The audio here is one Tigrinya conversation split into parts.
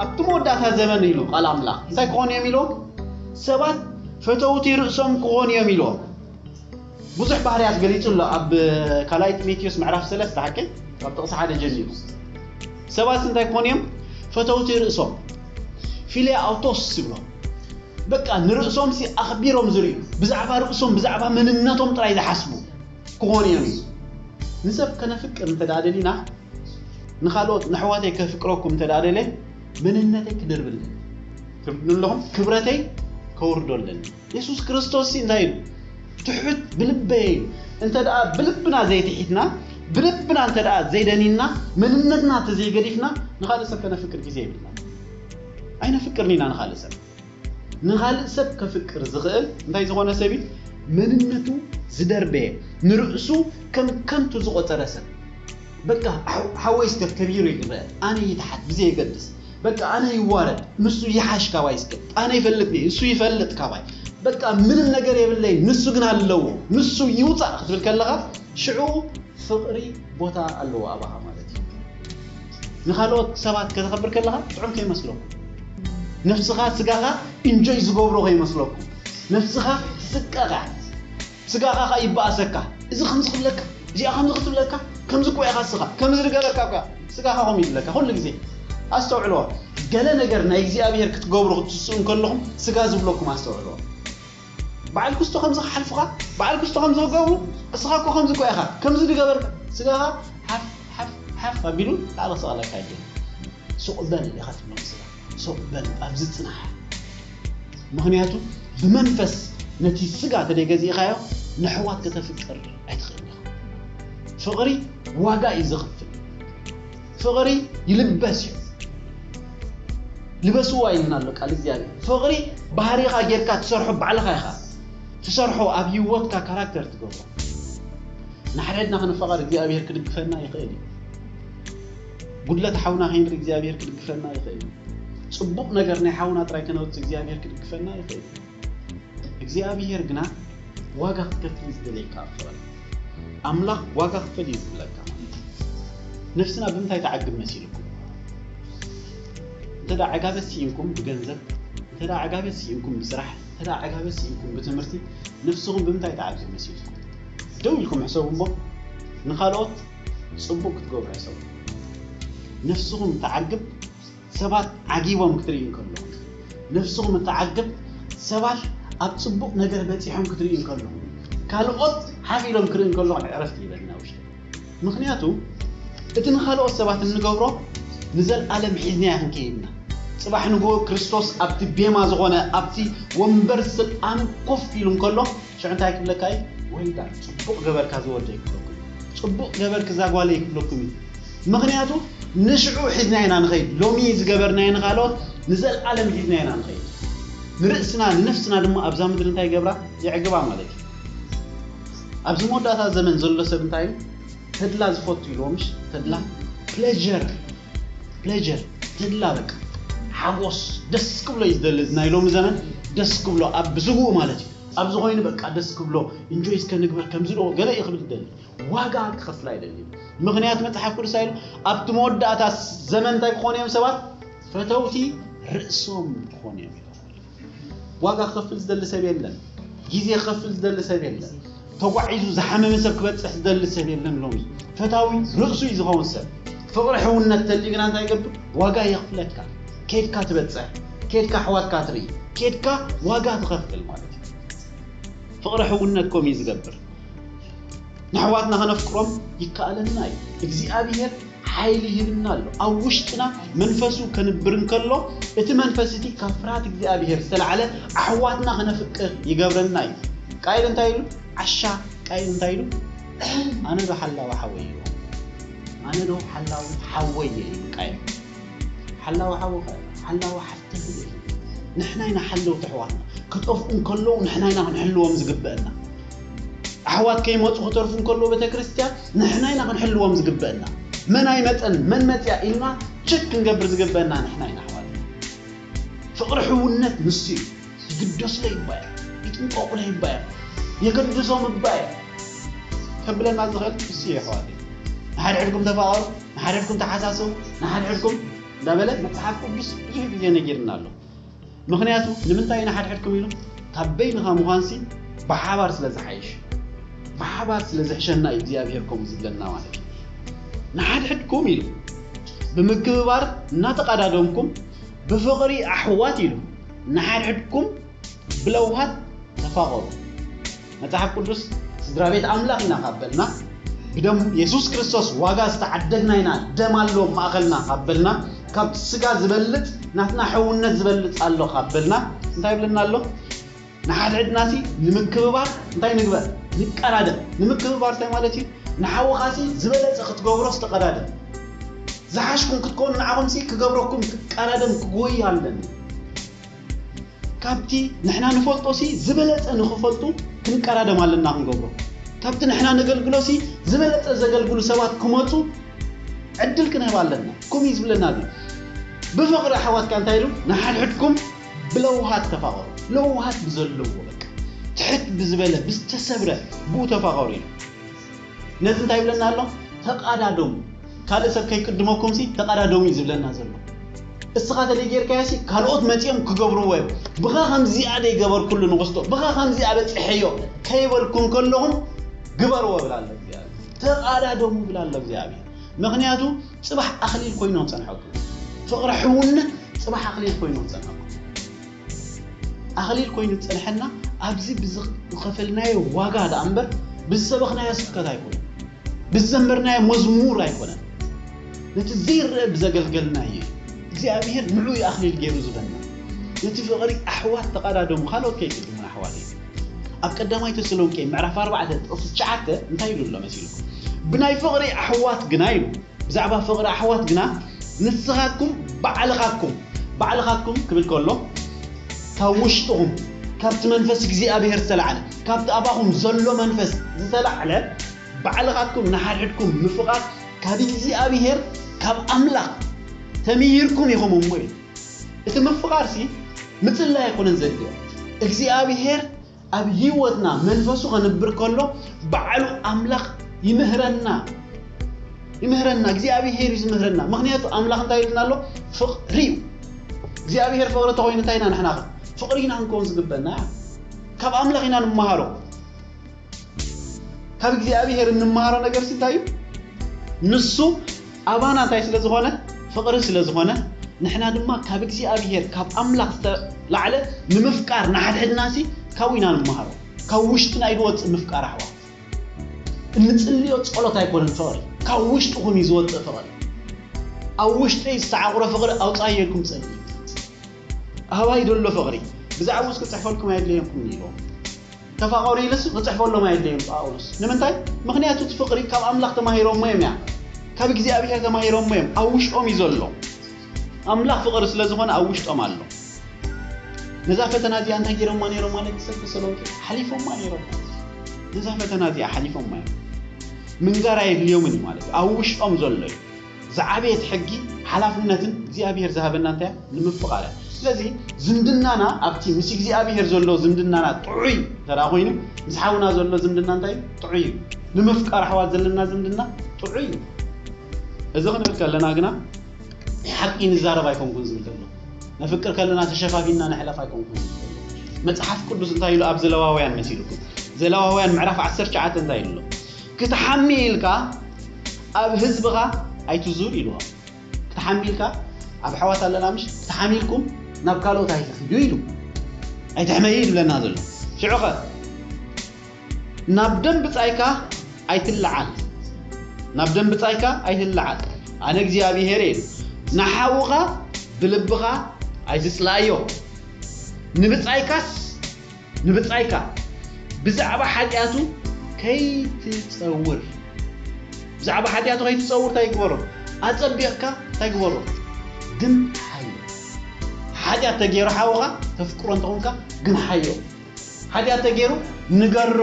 ኣብቲ መወዳእታ ዘበን ኢሉ ቃል ኣምላኽ እንታይ ክኾኑ እዮም ኢሎም ሰባት ፈተውቲ ርእሶም ክኾኑ እዮም ኢሎም ብዙሕ ባህርያት ገሊጹ ኣሎ ኣብ ካልኣይ ጢሞቴዎስ ምዕራፍ ሰለስተ ሓቂ ካብ ጥቕሲ ሓደ ጀሚሩ ሰባት እንታይ ክኾኑ እዮም ፈተውቲ ርእሶም ፊልያ ኣውቶስ ዝብሎ በቃ ንርእሶም ሲ ኣኽቢሮም ዝርእዩ ብዛዕባ ርእሶም ብዛዕባ መንነቶም ጥራይ ዝሓስቡ ክኾኑ እዮም እዩ ንሰብ ከነፍቅር እንተ ደሊና ንኻልኦት ንሕዋተይ ከፍቅረኩም እንተ ደለ መንነተይ ክድርብለን ትብሉ ኣለኹም ክብረተይ ከውርዶ ኣለኒ የሱስ ክርስቶስሲ እንታይ ኢሉ? ትሑት ብልበይ ኢሉ። እንተድኣ ብልብና ዘይትሒትና፣ ብልብና እንተድኣ ዘይደኒንና፣ መንነትና እንተዘይገዲፍና፣ ንኻልእ ሰብ ከነፍቅር ግዜ የብልናን። ኣይነፍቅርን ኢና ንኻልእ ሰብ። ንኻልእ ሰብ ከፍቅር ዝኽእል እንታይ ዝኾነ ሰብ እዩ? መንነቱ ዝደርበየ፣ ንርእሱ ከም ከንቱ ዝቖጸረ ሰብ። በቃ ሓወይስ ተከቢሩ ይግበ ኣነ ይትሓት ብዘየገድስ በቃ ኣነ ይዋረድ ንሱ ይሓሽ ካባይ ስከ ኣነ ይፈልጥኒ ንሱ ይፈልጥ ካባይ በቃ ምንም ነገር የብለይ ንሱ ግን ኣለዎ ንሱ ይውፃእ ክትብል ከለኻ ሽዑ ፍቕሪ ቦታ ኣለዎ ኣባኻ ማለት እዩ ንካልኦት ሰባት ከተኸብር ከለኻ ጥዑም ከይመስለኩም ነፍስኻ ስጋኻ ኢንጆይ ዝገብሮ ከይመስለኩም ነፍስኻ ስቀቓ ስጋኻ ኸኣ ይበኣሰካ። እዚ ከምዚ ክብለካ፣ እዚኣ ከምዚ ክትብለካ፣ ከምዚ እኮ ኢኻ እስኻ፣ ከምዚ ንገረካ እኮ ኢኻ፣ ስጋኻ ከምኡ ይብለካ ኩሉ ግዜ። ኣስተውዕልዎ፣ ገለ ነገር ናይ እግዚኣብሄር ክትገብሩ ክትትስኡ እንከለኹም ስጋ ዝብለኩም ኣስተውዕልዎ። በዓል ክስቶ ከምዚ ክሓልፉኻ፣ በዓል ክስቶ ከምዚ ክገብሩ፣ እስኻ እኮ ከምዚ እኮ ኢኻ፣ ከምዚ ንገበርካ፣ ስጋኻ ሓፍ ሓፍ ሓፍ ኣቢሉ ላዕሊ ክሰቕለካ ይደሊ። ሱቅ በል ኢካ ትመልስላ ሱቅ በል ኣብዚ ጽናሕ ምክንያቱ ብመንፈስ ነቲ ስጋ ተደይ ገዚእካዮ ነሕዋት ከተፍቅር ኣይትክእልን ኢካ ፍቅሪ ዋጋ እዩ ዘክፍል ፍቅሪ ይልበስ እዩ ልበስዋ ኢልና ኣሎ ቃል እግዚኣብሔር ፍቅሪ ባህሪካ ጌርካ ትሰርሖ ባዕልካ ኢካ ትሰርሖ ኣብ ሂወትካ ካራክተር ትገብሮ ንሓድሕድና ክንፋቀር እግዚኣብሔር ክድግፈና ይክእል እዩ ጉድለት ሓውና ከይንርኢ እግዚኣብሔር ክድግፈና ይኽእል እዩ። ጽቡቕ ነገር ናይ ሓውና ጥራይ ከነውጽእ እግዚኣብሔር ክድግፈና ይኽእል እዩ። እግዚኣብሔር ግና ዋጋ ክትከፍል እዩ ዝደልየካ ኣብ ፍቕሪ። ኣምላኽ ዋጋ ክፈል እዩ ዝብለካ። ነፍስና ብምንታይ ተዓግብ መሲልኩም? እንተ ዕጋበት ስኢንኩም ብገንዘብ፣ እንተ ዕጋበት ስኢንኩም ብስራሕ፣ እንተ ዕጋበት ስኢንኩም ብትምህርቲ፣ ነፍስኹም ብምንታይ ተዓግብ መሲልኩም? ደው ኢልኩም ሕሰቡ እሞ ንኻልኦት ጽቡቅ ክትገብሩ ሕሰቡ ነፍስኹም ትዓግብ ሰባት ዓጊቦም ክትርእዩ እንከለኹም ነፍስኹም እትዓግብ ሰባት ኣብ ጽቡቅ ነገር በጺሖም ክትርእዩ እንከለኹም ካልኦት ሓፍ ኢሎም ክርኢ እንከለኹም ዕረፍቲ ይበልና ውሽጢ ምኽንያቱ እቲ ንኻልኦት ሰባት እንገብሮ ንዘልኣለም ሒዝናዮ ክንከይድና ጽባሕ ንግሆ ክርስቶስ ኣብቲ ቤማ ዝኾነ ኣብቲ ወንበር ስልጣኑ ኮፍ ኢሉ እንከሎ ሽዑ እንታይ ክብለካ እዩ well done ጽቡቅ ገበርካ እዚ ወደይ ክብለኩም እዩ ጽቡቅ ገበርኪ እዛ ጓለይ ክብለኩም እዩ ምኽንያቱ ንሽዑ ሒዝናዮ ኢና ንኸይድ ሎሚ ዝገበርናዮ ንኻልኦት ንዘልኣለም ሒዝናዮ ኢና ንኸይድ ንርእስና ንነፍስና ድማ ኣብዛ ምድሪ እንታይ ይገብራ የዕግባ ማለት እዩ ኣብዚ መወዳእታ ዘመን ዘሎ ሰብ እንታይ እዩ ተድላ ዝፈቱ ኢልዎ ምሽ ተድላ ፕሌዠር ፕሌዠር ተድላ በቃ ሓጎስ ደስ ክብሎ እዩ ዝደሊ ናይ ሎሚ ዘመን ደስ ክብሎ ኣብ ብስጉኡ ማለት እዩ ኣብዚ ኮይኑ በቃ ደስ ክብሎ እንጆይ እስከ ንግበር ከምዚ ዶ ገለ እዩ ክብል ዝደሊ ዋጋ ክኸፍል ኣይደልን ምኽንያት መጽሓፍ ቅዱስ ኣይሉ ኣብቲ መወዳእታ ዘመን እንታይ ክኾኑ እዮም ሰባት ፈተውቲ ርእሶም ክኾኑ እዮም ዋጋ ክኸፍል ዝደሊ ሰብ የለን ግዜ ክኸፍል ዝደሊ ሰብ የለን ተጓዒዙ ዝሓመመ ሰብ ክበጽሕ ዝደሊ ሰብ የለን ሎሚ ፈታዊ ርእሱ እዩ ዝኸውን ሰብ ፍቕሪ ሕውነት ተልዩ ግና እንታይ ይገብር ዋጋ የኽፍለካ ኬድካ ትበጽሕ ኬድካ ኣሕዋትካ ትርኢ ኬድካ ዋጋ ትኸፍል ማለት እዩ ፍቕሪ ሕውነት ከምኡ እዩ ዝገብር ንኣሕዋትና ከነፍቅሮም ይከኣለና እዩ እግዚኣብሄር ሓይሊ ይህብና ኣሎ። ኣብ ውሽጥና መንፈሱ ከንብር እንከሎ፣ እቲ መንፈስ እቲ ካብ ፍርሃት እግዚኣብሄር ዝተላዕለ ኣሕዋትና ክነፍቅር ይገብረና እዩ። ቃየል እንታይ ኢሉ? ዓሻ ቃየል እንታይ ኢሉ? ኣነዶ ሓላዊ ሓወይ እየ። ኣነዶ ሓላዊ ሓወይ እየ ኢሉ ቃየል። ሓላዊ ሓውኸ? ሓላዊ ሓፍትኽ እየ ኢሉ። ንሕና ኢና ሓለውቲ ኣሕዋትና። ክጠፍኡ እንከለዉ ንሕና ኢና ክንሕልዎም ዝግበእና። ኣሕዋት ከይመጹ ክተርፉ እንከለዉ ቤተክርስትያን ንሕና ኢና ክንሕልዎም ዝግበእና። መን ኣይመጸን መን መጽኣ ኢልና ቸክ ክንገብር ዝግበእና ንሕና ኢና ኣሕዋተይ። ፍቕሪ ሕውነት ንሱ እዩ። ይግደሱለይ እባ እዮም ይጥንቀቑለይ እባ እዮም የገድሶም እባ እየ ከብለና ዝኽእል ንሱ እዩ ኣሕዋተይ። ንሓድሕድኩም ተፋቐሩ ንሓድሕድኩም ተሓሳሰቡ ንሓድሕድኩም እንዳበለ መጽሓፍ ቅዱስ ብዙሕ ግዜ ነጊርና ኣሎ። ምኽንያቱ ንምንታይ ኢና ሓድሕድኩም ኢሉ ካብ በይንኻ ምዃንሲ ብሓባር ስለ ዝሓይሽ ብሓባር ስለ ዝሕሸና እዩ እግዚኣብሄር ከምኡ ዝብለና ማለት እዩ ንሓድሕድኩም ኢሉ ብምክብባር እናተቐዳደምኩም ብፍቕሪ ኣሕዋት ኢሉ ንሓድሕድኩም ብለውሃት ተፋቐሩ መጽሓፍ ቅዱስ ስድራ ቤት ኣምላኽ ኢና ካብ በልና፣ ብደም የሱስ ክርስቶስ ዋጋ ዝተዓደግና ኢና፣ ደም ኣሎ ኣብ ማእከልና ካብ በልና፣ ካብቲ ስጋ ዝበልጽ ናትና ሕውነት ዝበልጽ ኣሎ ካብ በልና፣ እንታይ ይብለና ኣሎ? ንሓድሕድናሲ ንምክብባር እንታይ ንግበር? ንቀዳደም። ንምክብባር እንታይ ማለት እዩ? ንሓውኻሲ ዝበለጸ ክትገብሮስ ተቐዳደም። ዝሓሽኩም ክትኮኑ ንዓኹምሲ ክገብረኩም ክቀዳደም ክጎይ ኣለኒ። ካብቲ ንሕና ንፈልጦሲ ዝበለጸ ንኽፈልጡ ክንቀዳደም ኣለና ክንገብሮ። ካብቲ ንሕና ነገልግሎሲ ዝበለጸ ዘገልግሉ ሰባት ክመጹ ዕድል ክንህብ ኣለና። ከምኡ እዩ ዝብለና እዚ ብፍቕሪ ኣሕዋት ከኣ እንታይ ኢሉ ንሓድሕድኩም ብለውሃት ተፋቐሩ ለውሃት ብዘለዎ በቃ ትሕት ብዝበለ ብዝተሰብረ ብኡ ተፋቐሩ ኢሉ። ነዚ እንታይ ይብለና ኣሎ? ተቓዳደሙ፣ ካልእ ሰብ ከይቅድመኩምሲ ተቓዳደሙ እዩ ዝብለና ዘሎ። እስኻ ተደይ ጌርካዮሲ ካልኦት መጺኦም ክገብርዎ እዮም፣ ብኻ ከምዚኣ ደይ ገበርኩሉ ንኽስቶ፣ ብኻ ከምዚ ኣበጺሐዮ ከይበልኩም ከለኹም ግበርዎ ይብል ኣሎ እግዚኣብሔር። ተቓዳደሙ ይብል ኣሎ እግዚኣብሔር። ምኽንያቱ ጽባሕ ኣኽሊል ኮይኑ ክጸንሐኩም እዩ። ፍቕሪ ሕውነት ጽባሕ ኣኽሊል ኮይኑ ክጸንሐኩም እዩ። ኣኽሊል ኮይኑ ዝጸንሐና ኣብዚ ብዝኸፈልናዮ ዋጋ ደኣ እምበር ብዝሰበኽናዮ ስብከት ኣይኮነን፣ ብዝዘመርናዮ መዝሙር ኣይኮነን፣ ነቲ ዘይረኣ ብዘገልገልናዮ እዩ። እግዚኣብሄር ንዑ እዩ ኣኽሊል ገይሩ ዝህበና። ነቲ ፍቕሪ ኣሕዋት ተቐዳደሙ ካልኦት ከይቅድሙና ኣሕዋተይ። ኣብ ቀዳማይ ተሰሎንቄ ምዕራፍ ኣርባዕተ ጥቕሲ ትሽዓተ እንታይ ኢሉ ኣሎ መሲልኩም? ብናይ ፍቕሪ ኣሕዋት ግና ኢሉ ብዛዕባ ፍቕሪ ኣሕዋት ግና ንስኻትኩም ባዕልኻትኩም፣ ባዕልኻትኩም ክብል ከሎ ካብ ውሽጥኹም ካብቲ መንፈስ እግዚኣብሄር ዝተላዕለ፣ ካብቲ ኣባኹም ዘሎ መንፈስ ዝተላዕለ ባዕልኻትኩም ንሓድሕድኩም ምፍቓር ካብ እግዚኣብሄር ካብ ኣምላኽ ተምሂርኩም ኢኹም እሞ ኢሉ። እቲ ምፍቓርሲ ምጽላይ ኣይኮነን ዘድልዮ። እግዚኣብሄር ኣብ ህይወትና መንፈሱ ከንብር ከሎ ባዕሉ ኣምላኽ ይምህረና ይምህረና እግዚኣብሄር እዩ ዝምህረና ምክንያቱ ኣምላኽ እንታይ ኢሉና ኣሎ ፍቕሪ እዩ እግዚኣብሄር ፍቕሪ እንተኮይኑ እንታይ ኢና ንሕና ከ ፍቕሪ ኢና ክንከውን ዝግበና ካብ ኣምላኽ ኢና ንመሃሮ ካብ እግዚኣብሄር እንመሃሮ ነገርሲ እንታይ እዩ ንሱ ኣባና እንታይ ስለ ዝኾነ ፍቕሪ ስለ ዝኾነ ንሕና ድማ ካብ እግዚኣብሄር ካብ ኣምላኽ ዝተላዕለ ንምፍቃር ንሓድሕድናሲ ካብኡ ኢና ንመሃሮ ካብ ውሽጥና እዩ ዝወጽእ ምፍቃር ኣሕዋት እንጽልዮ ጸሎት ኣይኮነን ፍቕሪ ካብ ውሽጥኹም እዩ ዝወጽእ ፍቕሪ ኣብ ውሽጠይ ዝተዓቑረ ፍቕሪ ኣውጻዮ ኢልኩም ጸልዩ ኣባይ ደሎ ፍቕሪ ብዛዕባኡ እስክጽሕፈልኩም ኣየድለየኩምን ኢሎም ተፋቐሩ ኢሉስ ኺጽሕፈሎም ኣየድለዮን ጳውሎስ። ንምንታይ? ምኽንያቱ እቲ ፍቕሪ ካብ ኣምላኽ ተማሂሮሞ እዮም እያ ካብ እግዚኣብሄር ተማሂሮሞ እዮም ኣብ ውሽጦም እዩ ዘሎ። ኣምላኽ ፍቕሪ ስለ ዝኾነ ኣብ ውሽጦም ኣሎ። ነዛ ፈተና እዚኣ እንታይ ጌሮማ ነይሮም ማለት ንሰብ ተሰሎንቄ? ሓሊፎማ ነይሮም። ነዛ ፈተና እዚኣ ሓሊፎማ እዮም። ምንጋር ኣየድልዮምን እዩ ማለት እዩ ኣብ ውሽጦም ዘሎ እዩ። ዝዓበየት ሕጊ ሓላፍነትን እግዚኣብሄር ዝሃበና እንታይ እያ? ንምፍቓር እያ። ስለዚ ዝምድናና ኣብቲ ምስ እግዚኣብሄር ዘሎ ዝምድናና ጥዑይ እንተድኣ ኮይኑ ምስ ሓውና ዘሎ ዝምድና እንታይ እዩ? ጥዑይ እዩ። ንምፍቃር ኣሕዋት ዘለና ዝምድና ጥዑይ እዩ። እዚ ክንብል ከለና ግና ሓቂ ንዛረብ ኣይኮንኩን ዝብል ዘሎ። ነፍቅር ከለና ተሸፋፊንና ንሕለፍ ኣይኮንኩን ዝብል ዘሎ። መጽሓፍ ቅዱስ እንታይ ኢሉ ኣብ ዘለዋውያን መሲልኩም ዘለዋውያን ምዕራፍ ዓሰርተ ትሽዓተ እንታይ ኢሉ ኣሎ? ክትሓሚ ኢልካ ኣብ ህዝብኻ ኣይትዙር ኢልዎም ክትሓሚልካ ኣብ ኣሕዋት ኣለና ምሽ ተሓሚልኩም ናብ ካልኦት ኣይትኺዱ ኢሉ ኣይትሕመዩ እዩ ዝብለና ዘሎ ሽዑኸ ናብ ደም ብጻይካ ኣይትለዓል ናብ ደም ብጻይካ ኣይትለዓል ኣነ እግዚኣብሄር ኢሉ ንሓውኻ ብልብኻ ኣይትጽላእዮ ንብጻይካስ ንብጻይካ ብዛዕባ ሓጢኣቱ ከይትጸውር። ብዛዕባ ሓጢኣቱ ከይትጸውር እንታይ ግበሮ? ኣጸቢቕካ እንታይ ግበሮ? ግምሓዮ። ሓጢኣት ተገይሩ ሓውኻ ተፍቅሮ እንተኾንካ ግምሓዮ። ሓጢኣት ተገይሩ ንገሮ።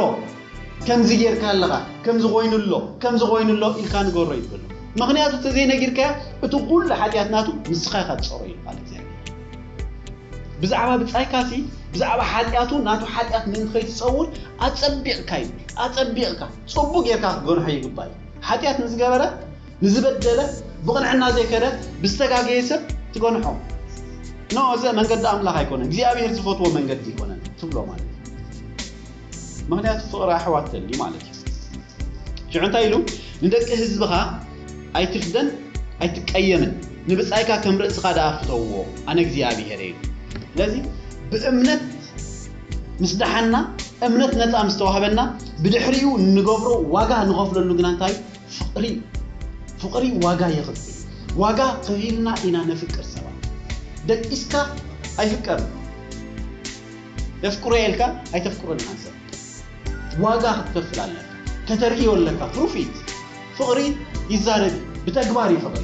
ከምዚ ጌርካ ኣለኻ፣ ከምዚ ኮይኑ ኣሎ፣ ከምዚ ኮይኑ ኣሎ ኢልካ ንገሮ ይበሎ። ምኽንያቱ እንተዘይነጊርካዮ እቲ ኩሉ ሓጢኣት ናቱ ንስኻ ኢኻ ትጸርዮ ይብል ቃል እግዚኣብሔር። ብዛዕባ ብጻይካሲ ብዛዕባ ሓጢኣቱ ናቱ ሓጢኣት ምእንቲ ከይትጸውር ኣጸቢቕካ እዩ ኣጸቢቕካ ጽቡቕ ጌርካ ክትገርሖ ይግባእ እዩ ሓጢኣት ንዝገበረ ንዝበደለ ብቕንዕና ዘይከደ ብዝተጋገየ ሰብ ትገንሖ ኖ እዚ መንገዲ ኣምላኽ ኣይኮነን እግዚኣብሔር ዝፈትዎ መንገዲ ኣይኮነን ትብሎ ማለት ምክንያቱ ፍቅሪ ኣሕዋት ደልዩ ማለት እዩ ሽዑ እንታይ ኢሉ ንደቂ ህዝብካ ኣይትፍደን ኣይትቀየምን ንብጻይካ ከም ርእስካ ደኣ ፍተውዎ ኣነ እግዚኣብሄር እየ ኢሉ ስለዚ ብእምነት ምስ ደሓና እምነት ነጻ ምስ ተዋህበና ብድሕሪኡ እንገብሮ ዋጋ ንኸፍለሉ ግና እንታይ እዩ ፍቅሪ እዩ ፍቅሪ ዋጋ የኽፍል ዋጋ ከፊልና ኢና ነፍቅር ሰባት ደቂስካ ኣይፍቀርን የፍቅሮ'የ ኢልካ ኣይተፍቅሮን ኢኻ ንሰብ ዋጋ ክትከፍል ኣለካ ከተርእዮ ኣለካ ፕሩፍ ኢት ፍቅሪ ይዛረብ ኢዩ ብተግባር ኢዩ ፍቅሪ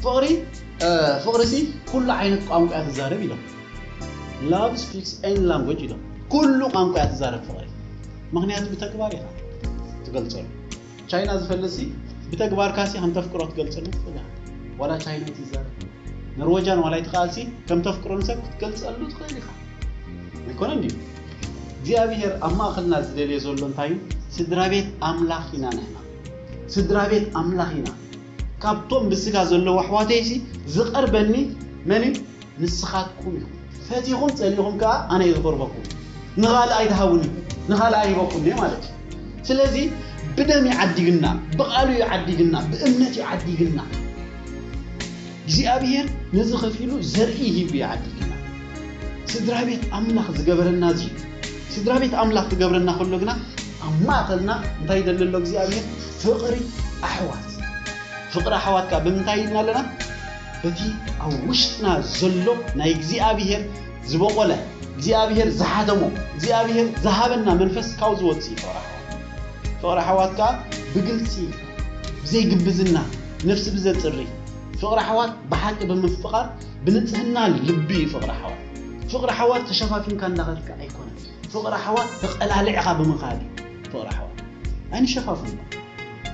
ፍቅሪ ፍቅሪሲ ኩሉ ዓይነት ቋንቋ ኢያ ትዛረብ ኢሎም love speaks any language ኢሎም ኩሉ ቋንቋ ኢያ ትዛረብ ፍቅሪ ምኽንያቱ ብተግባር ኢኻ ትገልጸሉ ቻይና ዝፈልጥሲ ብተግባርካሲ ከምተፍቅሮ ትገልጸሉ ትኽእል ኢኻ ዋላ ቻይና ትዛረብ ኖርወጃን ዋላ ይትኽኣልሲ ከምተፍቅሮ ንሰብ ክትገልጸሉ ትኽእል ኢኻ ኣይኮነን ድዩ እግዚኣብሔር ኣብ ማእኸልና ዝደልዮ ዘሎ እንታይ እዩ ስድራቤት ኣምላኽ ኢና ንሕና ስድራቤት ኣምላኽ ኢና ካብቶም ብስጋ ዘለዉ ኣሕዋተይሲ ዝቐርበኒ መን እዩ ንስኻትኩም ኢኹም። ፈቲኹም ጸሊእኹም ከኣ ኣነ'የ ዝቐርበኩም። ንኻልእ ኣይትሃቡን ኢኹም፣ ንኻልኣይ ሂበኩም'የ ማለት እዩ። ስለዚ ብደም'ዩ ዓዲግና፣ ብቓሉ'ዩ ዓዲግና፣ ብእምነት'ዩ ዓዲግና። እግዚኣብሄር ነዚ ከፊሉ ዘርኢ ሂቡ'ዩ ዓዲግና። ስድራቤት ኣምላኽ ዝገበረና እዚ'ዩ። ስድራቤት ኣምላኽ ክገብረና ከሎ ግና ኣብ ማእከልና እንታይ ይደሊ ኣሎ እግዚኣብሄር? ፍቕሪ ኣሕዋት። ፍቕሪ ኣሕዋት ከኣ ብምንታይ ሂብና ኣለና? በቲ ኣብ ውሽጥና ዘሎ ናይ እግዚኣብሄር ዝበቖለ እግዚኣብሄር ዝሓተሞ እግዚኣብሄር ዝሃበና መንፈስ ካብኡ ዝወጽእ እዩ ፍቕሪ ኣሕዋት። ፍቕሪ ኣሕዋት ከኣ ብግልጺ ብዘይ ግብዝና ነፍሲ ብዘጽሪ ፍቕሪ ኣሕዋት ብሓቂ ብምፍቓር ብንጽህና ልቢ እዩ ፍቕሪ ኣሕዋት። ፍቕሪ ኣሕዋት ተሸፋፊንካ እንዳኸድካ ኣይኮነን ፍቕሪ ኣሕዋት ተቐላሊዕኻ ብምኻድ እዩ ፍቕሪ ኣሕዋት። ኣይንሸፋፍኖ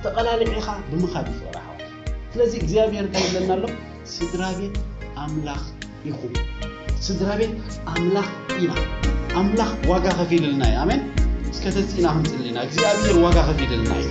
ተቐላሊዕኻ ብምኻድ እዩ ፍቕሪ ኣሕዋት። ስለዚ እግዚኣብሔር እንታይ ይብለና ኣሎ ስድራቤት ኣምላኽ ኢኹም ስድራቤት ኣምላኽ ኢና ኣምላኽ ዋጋ ከፊልልና እዩ ኣሜን እስከ ተጺና ክንጽልና እግዚኣብሔር ዋጋ ከፊልልና እዩ